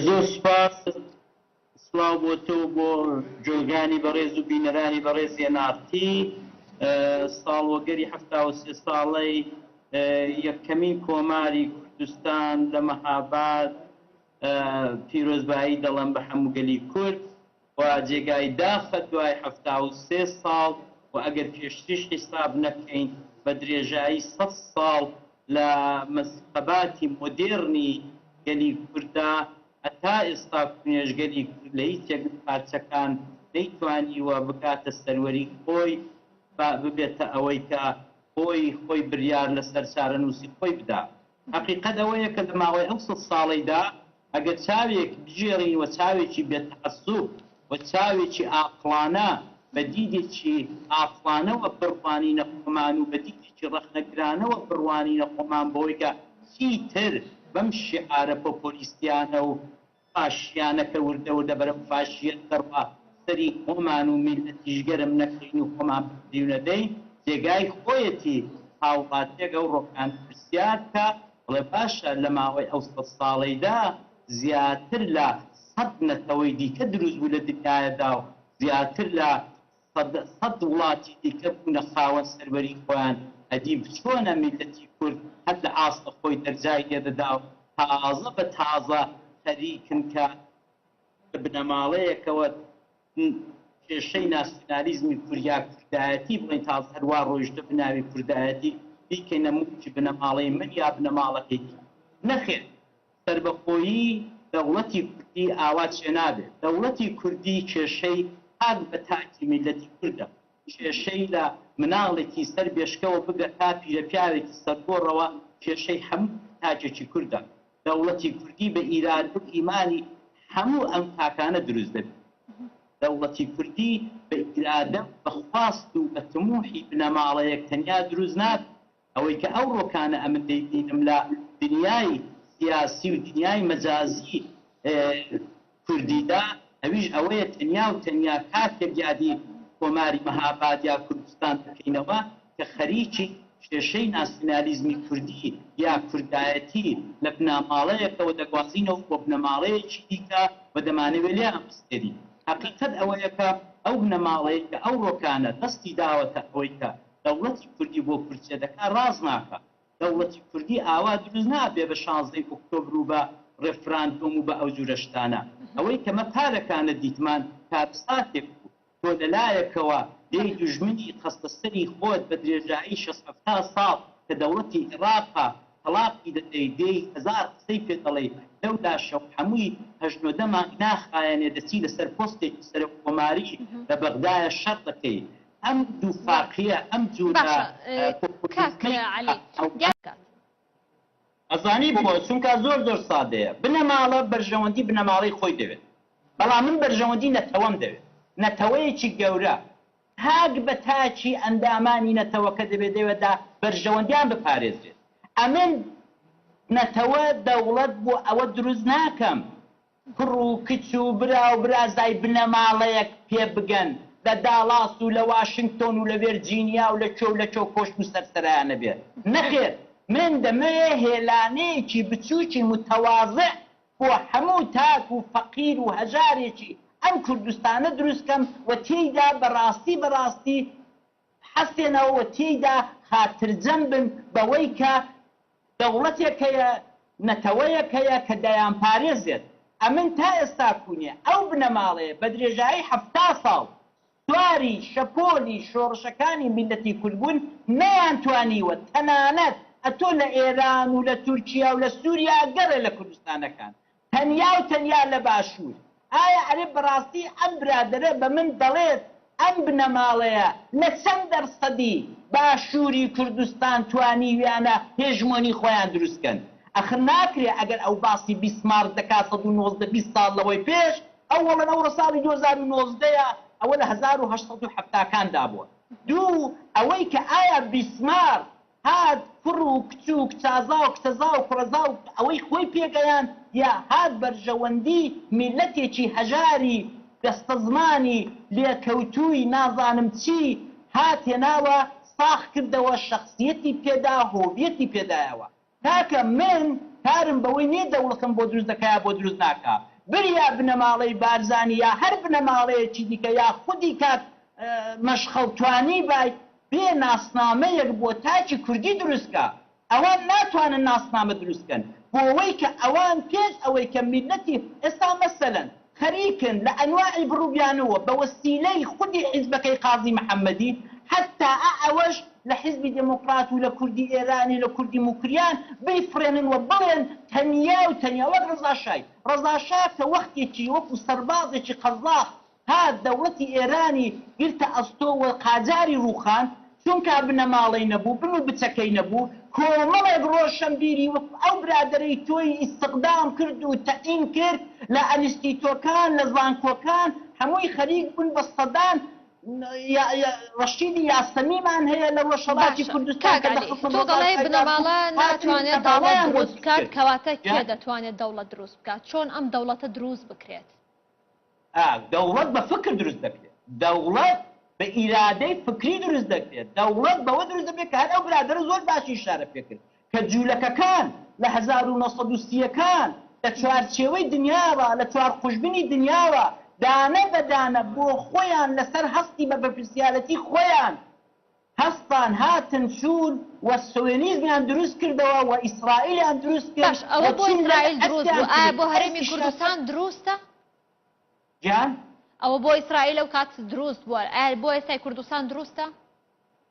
زۆر سوپاس سڵاو بۆ تۆ و بۆ جۆگرانی بەڕێز و بینەرانی بەڕێز ئێناڕتی ساڵوەگەری حەفتا و سێ ساڵەی یەکەمین کۆماری کوردستان لە مەهاباد پیرۆزبایی دەڵێم بە هەموو گەلی کورد خوا جێگای داخە دوای حەفتا و سێ ساڵ و ئەگەر پێشتریش حیساب نەکەین بە درێژایی سەد ساڵ لە مەزقەباتی مۆدێڕنی گەلی کورددا هەتا ئێستا کونێژگەلی کورد لە هیچێک لە پارچەکان نەیتوانیوە بکاتە سەروەری خۆی بە ببێتە ئەوەی کە خۆی خۆی بریار لەسەر چارەنووسی خۆی بدا. هەقیقەت ئەوەیە کە لە ماوەی ئەو سەد ساڵەیدا ئەگەر چاوێک بگێڕین و چاوێکی بێ تەعەسوب و چاوێکی ئاقڵانە بە دیدێکی ئاقڵانەوە بڕوانینە خۆمان و بە دیدێکی ڕەخنەگرانەوە بڕوانینە خۆمان بەوەی کە چیتر بەم شیعارە پۆپۆلیستیانە و ئاشتیانەکە وردە وردە بەرەو فاشیەت دەڕوا، سەری خۆمان و میللەتیش گەرم نەکەین و خۆمان بکریونە دەی، جێگای خۆیەتی هاوڵاتیەک ئەو ڕۆکانە پرسیار بکا، بڵێ باشە لە ماوەی ئەو سەد ساڵەیدا زیاتر لە سەد نەتەوەی دیکە دروست بوو لە دنیایەدا و زیاتر لە سەد سەد وڵاتی دیکە بوونە خاوەن سەروەری خۆیان ئەدیب چۆنە میللەتی کورد هەر لە ئاستە خۆی دەرجای لێدەدا و تازە بە تازە خەریکن کە لە بنەماڵەیەکەوە کێشەی ناسیونالیزمی کورد یا کوردایەتی بڵێین تازە هەر وا ڕۆیشتە بناوی کوردایەتی بیکەینە موڵکی بنەماڵەی من یا بنەماڵەکەی تۆ نەخێر سەربەخۆیی دەوڵەتی کوردی ئاوا چێ نابێت، دەوڵەتی کوردی کێشەی تاک بە تاکی میللەتی کوردە، کێشەی لە مناڵێکی سەر بێشکەوە بگە تا پیرەپیاوێکی سەرگۆڕەوە کێشەی هەموو تاکێکی کوردە، دەوڵەتی کوردی بە ئیرادە و ئیمانی هەموو ئەم تاکانە دروست دەبێت، دەوڵەتی کوردی بە ئیرادە و بە خواست و بە تموحی بنەماڵەیەک تەنیا دروست نابێت، ئەوەی کە ئەوڕۆ کانە ئەمن دەیبینم لە دنیای سیاسی و دنیای مەجازی کوردیدا ئەویش ئەوەیە تەنیا و تەنیا کاتێک یادی کۆماری مهاباد یا کوردستان دەکەینەوە کە خەریکی کێشەی ناسیونالیزمی کوردی یا کوردایەتی لە بناماڵەیەکەوە دەگوازینەوە بۆ بنەماڵەیەکی دیکە و دەمانەوێ لێیان بستێرین. هەقیقەت ئەوەیە کە ئەو بنەماڵەیەی کە ئەوڕۆ کانە دەستی داوەتە ئەوەی کە دەوڵەتی کوردی بۆ کورد چێ دەکا ڕاست ناکا. دەوڵەتی کوردی ئاوا دروست نابێ بە شانزدەی ئۆکتۆبر و بە ڕێفراندۆم و بە ئەو جورە شتانە. ئەوەی کە مە پارەکانە دیتمان کارەساتێک بوو. تۆ لە لایەکەوە لێی دوژمنی خەستە سەری خۆت بە درێژایی شەست هەفتا ساڵ کە دەوڵەتی ئێڕاقە تەڵاقی دەدەی دێی هەزار قسەی پێ دەڵێی لەو لاشەوە هەمووی هەشت نۆدە مانگ ناخایەنێ دەچی لە سەر پۆستێکی سەرۆک کۆماری لە بەغدایە شەڕ دەکەی ئەم دووفاقیە ئەم جورە پۆپۆلیزمەی ئەزانی بۆ چونکا زۆر زۆر سادەیە بنەماڵە بەرژەوەندی بنەماڵەی خۆی دەوێت بەڵام من بەرژەوەندی نەتەوەم دەوێت نەتەوەیەکی گەورە تاک بە تاکی ئەندامانی نەتەوەکە دەبێت لێوەدا بەرژەوەندیان بپارێزرێت ئەمن نەتەوە دەوڵەت بۆ ئەوە دروست ناکەم کوڕ و کچ و برا و برازای بنەماڵەیەک پێ بگەن، لە داڵاس و لە واشنگتۆن و لە ڤێرجینیا و لە کوێ و لە کوێ کۆشک و سەرسەرایانە بێ. نەخێر، من دەمەوێ هێلانەیەکی بچووکی متواضع بۆ هەموو تاک و فەقیر و هەژارێکی ئەم کوردستانە دروست کەم و تێیدا بە ڕاستی بە ڕاستی، بحەسێنەوە و تێیدا خاترجەم بن بەوەی کە دەوڵەتێک هەیە، نەتەوەیەک هەیە کە دەیانپارێزێت. ئەمن تا ئێستاکوونێ ئەو بنەماڵەیە بە درێژایی حەفتا ساڵ سواری شەپۆلی شۆڕشەکانی میللەتی کورد بوون، نەیانتوانیوە تەنانەت ئەتۆ لە ئێران و لە تورکیا و لە سووریا گەڕێ لە کوردستانەکان تەنیا و تەنیا لە باشوور. ئایا ئەرێ بەڕاستی ئەم برادەرە بە من دەڵێت ئەم بنەماڵەیە لە چەند دەرسەدی باشووری کوردستان توانیویانە هێژمۆنی خۆیان دروست کەن؟ ئەخر ناکرێ ئەگەر ئەو باسی بیسمارک دەکات سەد و نۆزدە بیست ساڵ لەوەی پێش ئەو وەڵن ئەوڕۆ ساڵی دوو هەزار و نۆزدە یە ئەوە لە هەزار و هەشت سەد و حەفتا کان دا بووە. دوو ئەوەی کە ئایا بیسمارک هات کوڕ و کچ و کچازا و کچەزا و کوڕەزا و ئەوەی خۆی پێگەیاند یا هات بەرژەوەندی میللەتێکی هەژاری بەستەزمانی لێکەوتووی نازانم چی هات هێناوە ساخ کردەوە شەخسیەتی پێدا هۆویەتی پێدایەوە کاکە من کارم بەوەی نیە دەوڵەتم بۆ دروست دەکا یا بۆ دروست ناکا بریا بنەماڵەی بارزانی یا هەر بنەماڵەیەکی دیکە یا خودی کاک مەشخەڵ توانیبای بێ ناسنامەیەک بۆ تاکی کوردی دروست کا، ئەوان ناتوانن ناسنامە دروست کەن بۆوەی کە ئەوان پێش ئەوەی کە میللەتی ئێستا مەسەلەن خەریکن لە ئەنواعی بڕ و بیانووە بە وەسیلەی خودی حیزبەکەی قازی محەمەدی حەتا ئا ئەوەش لە حیزبی دێمۆکڕات و لە کوردی ئێرانی لە کوردی موکریان بیفڕێنن و بڵێن تەنیا و تەنیا وەک ڕەزا شای ڕەزا شا کە وەختێکی وەکوو سەربازێکی قەزاخ ها دەوڵەتی ئێرانی گرتە ئەستۆ و قاجاری ڕووخاند، چونکا بنەماڵەی نەبوو، بن و بچەکەی نەبوو، کۆمەڵێک ڕۆشەنبیری وەکو ئەو برادەرەی تۆی ئیستقدام کرد و تەعین کرد لە ئەنستیتۆکان، لە زانکۆکان، هەمووی خەریک بوون بە سەدان ڕەشیدی یاسەمیمان هەیە لە ڕۆژهەڵاتی کوردستان کە لە خەسە مۆزای فەیاض بوو، هاتن و بنەماڵەیان بۆ دروست کرد. ئا دەوڵەت بە فکر دروست دەکرێت، دەوڵەت بە ئیرادەی فکری دروست دەکرێت، دەوڵەت بەوە دروست دەبێت کە هەر ئەو برادەرە زۆر باشی ئیشارە پێ کرد کە جوولەکەکان لە هەزار و نۆ سەد و سی ەکان لە چوارچێوەی دنیاوە، لە چوار قوژبنی دنیاوە دانە بە دانە بۆ خۆیان لەسەر هەستی بە بەپرسیارەتی خۆیان، هەستان هاتن چوون و سۆیۆنیزمیان دروست کردەوە و ئیسرائیلیان دروست کرد باش ئەوە و بۆ چین لێرە ئیسرائیل دروست بوو ئەستیان ئایا بۆ کرد هەرێمی ئەستی شەست کوردستان دروستە؟ جان؟ ئەوە بۆ ئیسرائیل ئەو کات دروست بووە ئایا بۆ ئێستای کوردستان دروستە؟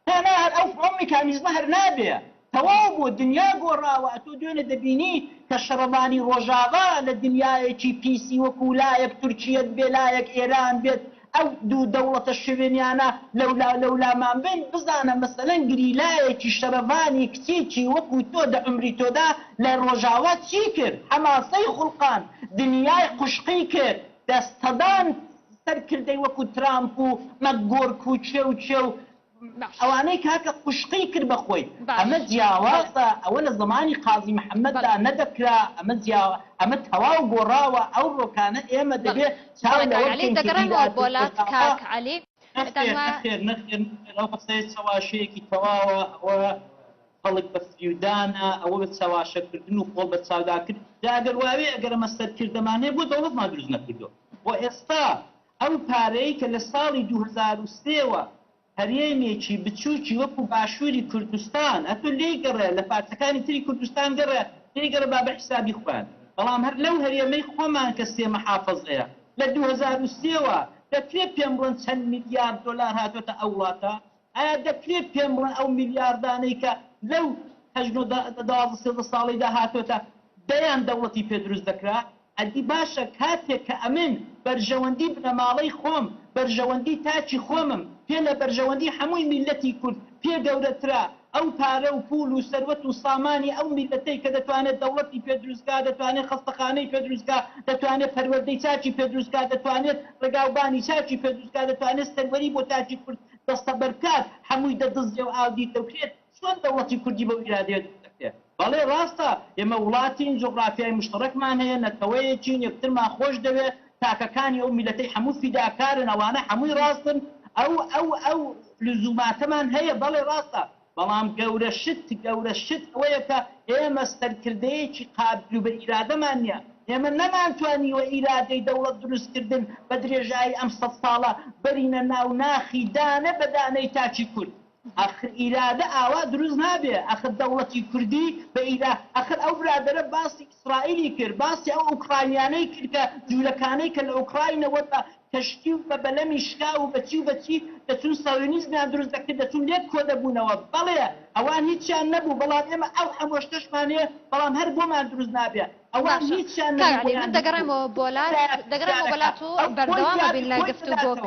نا نا هەر ئەو ئەو میکانیزمە هەر نابێ تەواو بوو دنیا گۆڕاوە ئەتۆ دوێنێ دەبینی کە شەڕەڤانی ڕۆژاڤا لە دنیایەکی پیسی وەکو لایەک تورکیە بێ لایەک ئێران بێت ئەو دوو دەوڵەتە شوێنیانە لەولاو لەولامان بن بزانە مەسەلەن گریلایەکی شەرەڤانی کچێکی وەکو تۆ دە عومری تۆدا لە ڕۆژاڤا چی کرد حەماسەی خوڵقاند دنیای قوشقی کرد دە سەدان سەرکردەی وەکو ترامپ و مەکگۆرک و کێ و کێ و ئەوانەی کاکە قوشقی کرد بە خۆی ئەمە جیاوازە ئەوە لە زەمانی قازی محمد دا نەدەکرا ئەمە جیاوا ئەمە تەواو گۆڕاوە ئەو رۆکانە ئێمە دەبێ چاو لەوە بکەین کە ئیرادەی رۆژئاوا نەخێر نەخێر نەخێر نەخێر ئەو قسەیە چەواشەیەکی تەواوە ئەوە خەڵک بە فریودانە ئەوە بە چەواشە کردن و خۆڵ بە چاودا کرد جا ئەگەر واوێ ئەگەر ئەمە سەرکردەمانێ بۆ دەوڵەتمان دروست نەکردوە وە ئێستا ئەو پارەی کە لە ساڵی دوو هەزار و سێ وە هەرێمێکی بچووکی وەکو باشووری کوردستان ئەتو لێی گەڕێ لە پارچەکانی تری کوردستان گەڕێ لێی گەڕێ با بە حیسابی خۆیان بەڵام هەر لەو هەرێمەی خۆمان کە سێ محافەزەیە لە دوو هەزار و سێ وە دەکرێ پێم بڵێن چەند میلیارد دۆلار هاتۆتە ئەو وڵاتە ئایا دەکرێت پێم بڵێن ئەو میلیاردانەی کە لەو هەشت نۆ دە دوازدە سێزدە ساڵیدا هاتۆتە دەیان دەوڵەتی پێ دروست دەکرا؟ ئەدی باشە کاتێک کە ئەمن بەرژەوەندی بنەماڵەی خۆم، بەرژەوەندی تاکی خۆمم پێ لە بەرژەوەندی هەمووی میللەتی کورد پێ گەورەترە، ئەو پارە و پوول و سەروەت و سامانی ئەو میللەتەی کە دەتوانێت دەوڵەتی پێ دروست کا، دەتوانێت خەستەخانەی پێ دروست کا، دەتوانێت پەروەردەی تاکی پێ دروست کا، دەتوانێت ڕێگاوبانی تاکی پێ دروست کا، دەتوانێت سەروەری بۆ تاکی کورد دەستەبەربکات هەمووی دەدزرێ و ئاودیو دەکرێت، چۆن دەوڵەتی کوردی بەو ئیرادەیە دروست دەکرێت؟ بەڵێ ڕاستە ئێمە وڵاتین، جوغرافیای مشتەڕەکمان هەیە، نەتەوەیەکین، یەکترمان خۆشدەوێت، تاکەکانی ئەو میللەتەی هەموو فیداکارن، ئەوانە هەمووی ڕاستن، ئەو ئەو ئەو لزوماتەمان هەیە، بەڵێ ڕاستە، بەڵام گەورە شت گەورە شت ئەوەیە کە ئێمە سەرکردەیەکی قابیل و بە ئیرادەمان نیە. ئێمە نەمانتوانیوە ئیرادەی دەوڵەت دروست کردن بە درێژایی ئەم سەد ساڵە بەرینە ناو ناخی دانە بە دانەی تاکی کورد. ئاخر ئیرادە ئاوا دروست نابێ. ئاخر دەوڵەتی کوردی بە ئیرا ئاخر ئەو برادەرە باسی. ئیسرائیلی کرد، باسی ئەو ئۆکراینیانەی کرد کە جوولەکانەی کە لە ئۆکراینەوە بە کەشتی و بە بەلەمی شکاو و بە چی و بە چی دەچوون سایۆنیزمیان دروست دەکرد دەچوون لێک کۆدەبوونەوە، بەڵێ ئەوان هیچیان نەبوو بەڵام ئێمە ئەو هەموو شتەشمان هەیە بەڵام هەر بۆمان دروست نابێ ئەوان باشە هیچیان کاک نەبوو عەلی بۆیان من دروست دەگەڕێمەوە بۆ لات دەگەڕێمەوە بۆ لات و بەردەوامەبین لە گفتوگۆ.